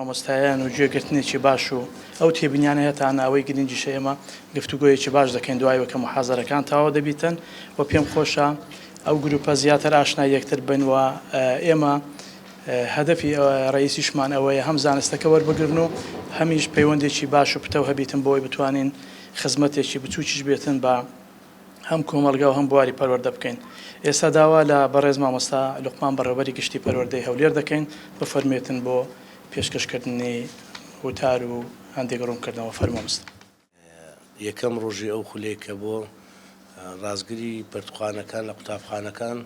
مامۆستایان و گوێگرتنێکی باش و ئەو تێبینیانەیە تا ناوەی گرنگیشە ئێمە گفتوگویەکی باش دەکەین دوایەوە کە محازەرەکان تاوا دەبیتن و پێم خۆشە ئەو گروپە زیاتر ئاشنا یەکتر بن و ئێمە هەدەفی ڕەئیسیشمان ئەوەیە هەم زانستەکە وەربگرن و هەمیش پەیوەندێکی باش و پتەو هەبیتن بۆی بتوانین خزمەتێکی بچوکیش بێتن بە هەم کۆمەڵگا و هەم بواری پەروەردە بکەین. ئێستا داوا لە بەڕێز مامۆستا لوقمان بەڕێوبەری گشتی پەروەردەی هەولێر دەکەین بفەرموێتن بۆ پێشکەشکردنی وتار و هەندێک ڕوونکردنەوە. فەرموو مست. یەکەم ڕۆژی ئەو خولەی کە بۆ ڕاستگری پەرتوخانەکان لە قوتابخانەکان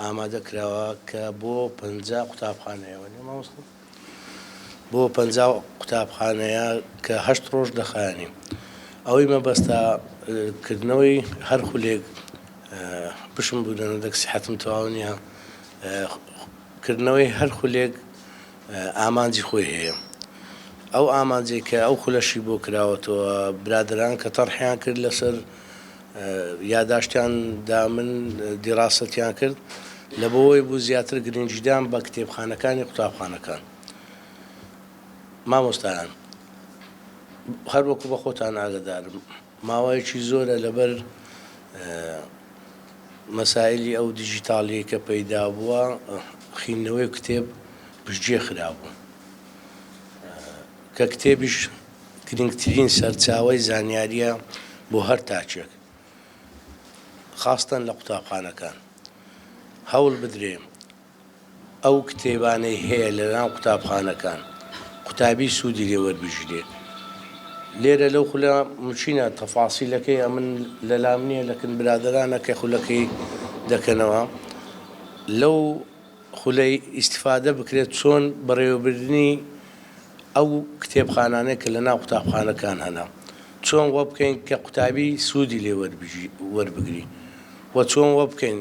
ئامادە کراوە کە بۆ پەنجا قوتابخانەیە وەنێ مامۆستا بۆ پەنجا قوتابخانەیە کە هەشت ڕۆژ دەخایەنی ئەوەی مەبەستا کردنەوەی هەر خولێک بشم بوو لەنەدەک سیحەتم تەواو نییە کردنەوەی هەر خولێک ئامانجی خۆی هەیە ئەو ئامانجەی کە ئەو خولەشی بۆ کراوەتەوە برادەران کە تەڕحیان کرد لەسەر یاداشتیان دا من دیڕاسەتیان کرد لە بەوەی بوو زیاتر گرنگیدان بە کتێبخانەکانی قوتابخانەکان مامۆستایان هەروەکو بە خۆتان ئاگدارم. ماوەیەکی زۆرە لەبەر مەسایلی ئەو دیجیتاڵیەی کە پەیدا بووە خیندنەوەی کتێب پشتگوێ خرابوو کە کتێبیش گرنگترین سەرچاوەی زانیاریە بۆ هەر تاکێک خاستەن لە قوتابخانەکان هەوڵ بدرێ ئەو کتێبانەی هەیە لە لام قوتابخانەکان قوتابی سودی لێ وەربگیرێ لێرە لەو خولە مچینە تەفاسیلەکەی ئەمن لە لام نییە لەکن برادرانە کە خولەکەی دەکەنەوە لەو خولەی ئیستفادە بکرێت چۆن بەڕێوەبردنی ئەو کتێبخانانەی کە لە ناو قوتابخانەکان هەنە چۆن وە بکەین کە قوتابی سودی لێ وەربگری وە چۆن وە بکەین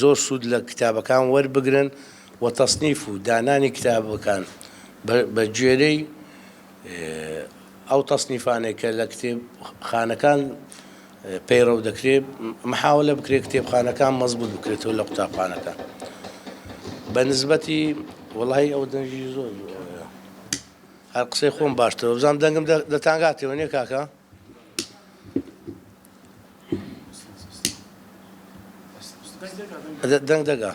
زۆر سوود لە کتابەکان وەربگرن و تەسنیف و دانانی کتابەکان بە گوێرەی ئەو تەسنیفانەی کە لە کتێبخانەکان پەیڕەو دەکرێ محاولە بکرێ کتێبخانەکان مەزبوط بکرێتەوە لە قوتابخانەکان بە نسبەتی وەڵی ئەو دەنگی زۆر هەر قسەی خۆم باشترە بزانام دەنگم دەتانگاتەوە نیە کاکە؟ دەنگ دەگا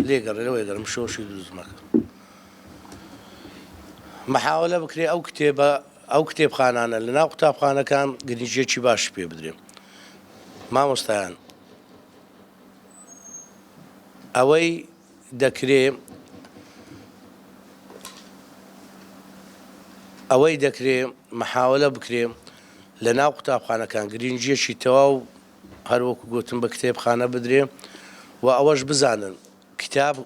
لێگەڕێ لەوەی گەرم شۆشی دروست مەکە محاولە بکرێ ئەو کتێبە ئەو کتێبخانانە لە ناو قوتابخانەکان گرنجێکی باش پێ بدرێ مامۆستایان ئەوەی دەکرێ ئەوەی دەکرێ محاولە بکرێ لە ناو قوتابخانەکان گرنگجیەکی تەواو هەروەکو گوتم بە کتێبخانە بدرێ و ئەوەش بزانن کتاب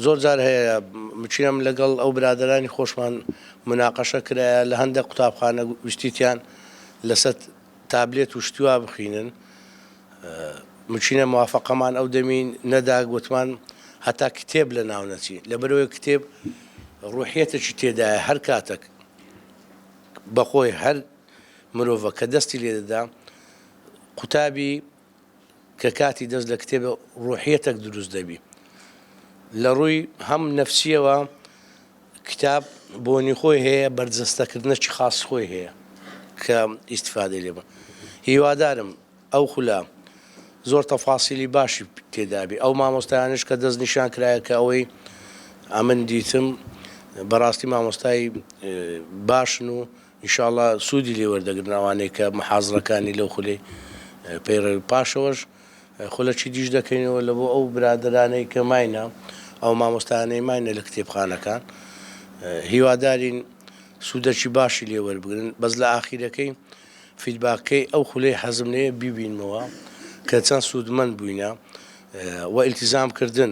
زۆر جار هەیە مچینم لەگەڵ ئەو برادرانی خۆشمان مناقەشە کرایە لە هەندێک قوتابخانە گشتیتیان لەسەر تابلێت و شتی وا بخینن مچینە موافقەمان ئەو دەمی نەدا گوتمان هەتا کتێب لە ناو نەچی لەبەرەوەی کتێب ڕوحەتێکی تێدایە هەر کاتەک بەخۆی هەر مرۆڤە کە دەستی لێدەدا قوتابی کە کاتی دەست لە کتێبە ڕوحیەتەک دروست دەبی لە ڕووی هەم نەفسیەوە کتاب بۆنی خۆی هەیە بەرجەستەکردنەکی خاص خۆی هەیە کە ئیسفادە لێ بە هیوادارم ئەو خولە زۆر تەفاسیلی باشی تێدابی ئەو مامۆستایانش کە دەست نیشان کرایە کە ئەوەی ئەمن دیتم بەڕاستی مامۆستای باشن و انشاءاللە سودی لێ وەردەگرن ئەوانەی کە محازڕەکانی لەو خولەی پەیڕەوی پاشەوەش خولە چیدیش دەکەینەوە لە بۆ ئەو برادەرانەی کە ماینە ئەو مامۆستایانەی ماینە لە کتێبخانەکان هیوادارین سودەکی باشی لێ وەربگرن بەس لە ئاخیرەکەی فیدباکەی ئەو خولەی حەزم لێیە بیبینمەوە کە چەند سودمەند بووینە وە ئیلتیزام کردن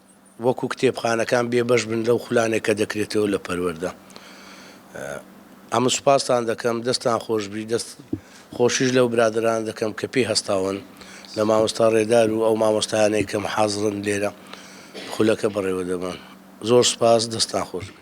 وەکو کتێبخانەکان بێ بەش بن لەو خولانەی کە دەکرێتەوە لە پەروەردە ئەمن سوپاستان دەکەم دەستان خۆش بی دەست خۆشیش لەو برادران دەکەم کە پێی هەستاون لە مامۆستا ڕێدار و ئەو مامۆستایانەی کەم حازرن لێرە خولەکە بەڕێوە دەبن زۆر سوپاس دەستان خۆش بی.